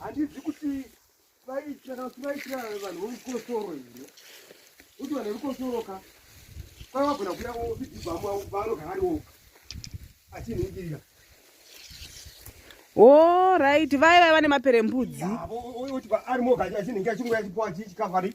handizi kuti vaitira kana kuti vaitira vanhu vorukosoro here kuti vanhu verukosoro ka kwai vagona kuya vidzibhamu avo vaanogara ari oga achinhingirira o oh, right vaya vaya vane maperembudzi oti ari moga achinhingira chingoya chipoa chichikavari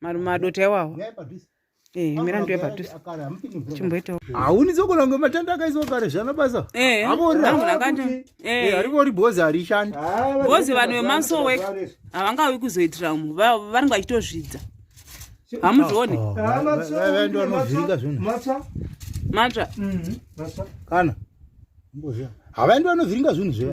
Marume adota iwawa. Eh, mira ndiwe padhuze. Chimboita. Hauni zokona kunge matanda akaiswa kare zvana basa. Eh. Amori. Eh. eh, ariko ri bozi ari shandi. Ah, bozi vanhu vemaso work. Havangawi kuzoitira mu. Vari ngachitozvidza. Hamuzvione. Oh, ah, Vave ndo anozvinga zvinhu. Matsa. Matsa. Mhm. Matsa. Kana. Mboziya. Havaendi vanovhiringa zvinhu zve.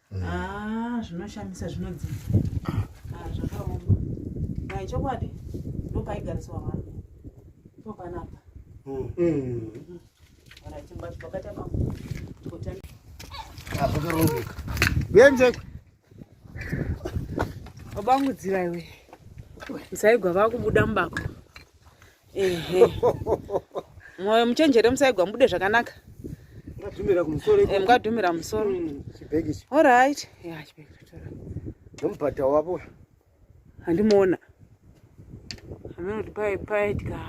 mm. ah, zvinoshamisa zvinodzi ah, zvakaoma mai chokwadi ndopaigariswa vanhu ipo panapa vakarombeka venzekwe vabangudzira iwe musaigwa vakubuda mubako ehe mwoyo muchenjere musaigwa mubude zvakanaka Mukadhumira kumusoro Eh, ikoko. mukadhumira musoro Mm, Chibhegi ichi. orit Nomubhadha wavo. handimuona anoti pai paitika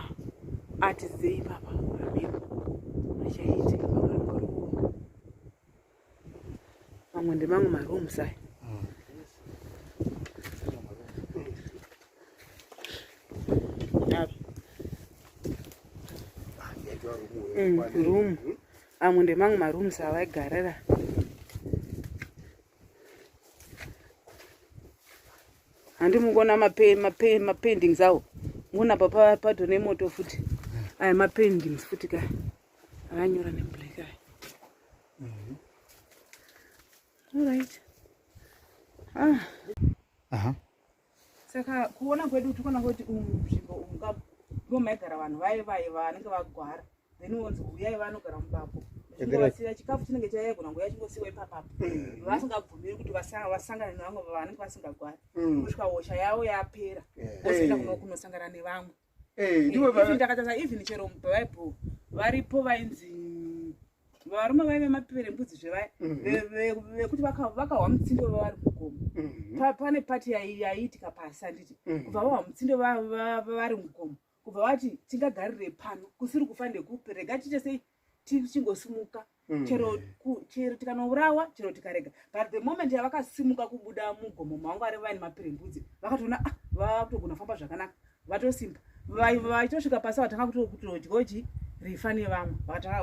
ati zei papa pamhepo achaitika mamwe ndemamwe marooms aya room amwe ndemamwe marooms avaigarira handi mukuona mapendings awo muona papa pato nemoto futi aya mapendings futi kaya avanyora neblack aya Mhm. All right. Ah. Aha. Saka kuona kwedu tikona kuti umu nzvimbo umu ka ndipo maigara vanhu vaye vaye vanenge vagwara then wonzi huyai vanogara mubapo chingowasira chikafu chinenge chaigona nguya chingosiwa ipapapo vasingabvumiri kuti vasa- vasangane nevamwe vanenge vasingagwari Mm. kusvika hosha yavo yapera Yeah. vosvika kuno- kunosangana nevamwe Eh, ndivo baba. Ndakatanga even chero muBible varipo vainzi varume vaive mapere mbudzi zvevaya mhm. vekuti vakahwa mutsindo vavari mugomo mhm. pane pati yaiitika pasi handiti mhm. kubva vahwa mutsindo vavari mugomo kubva vati tingagarire pano kusiri kufa nekupi rega tiite sei tichingosimuka mm. chero chero tikanourawa chero tikarega but the moment yavakasimuka kubuda mugomo mangu ari vaine mapirembudzi vakatoona ah vakutogona kufamba zvakanaka vatosimba vaitosvika pasi vatanga kutodyoji rifa nevamwe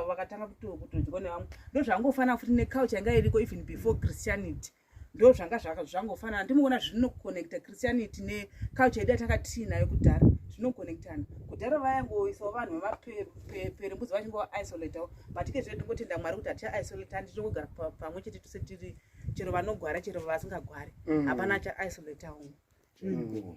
vakatanga kutodyo nevamwe ndozvangofanira futi necouch yanga iriko even before christianity ndo zvanga zvangofanana ndimoona zvinoconnecta christianity neculture yedu yatanga tiinayo kudhara zvinoconnectana kudhara vayangoisawo vanhu vemaperembudzi vachingoisolatawo but ke zvee ndingotenda mwari kuti hatichaisolata handi tinongogara pamwe chete tose tiri chero vanogwara chero vasingagwari mm. hapana achaisolatawo mm.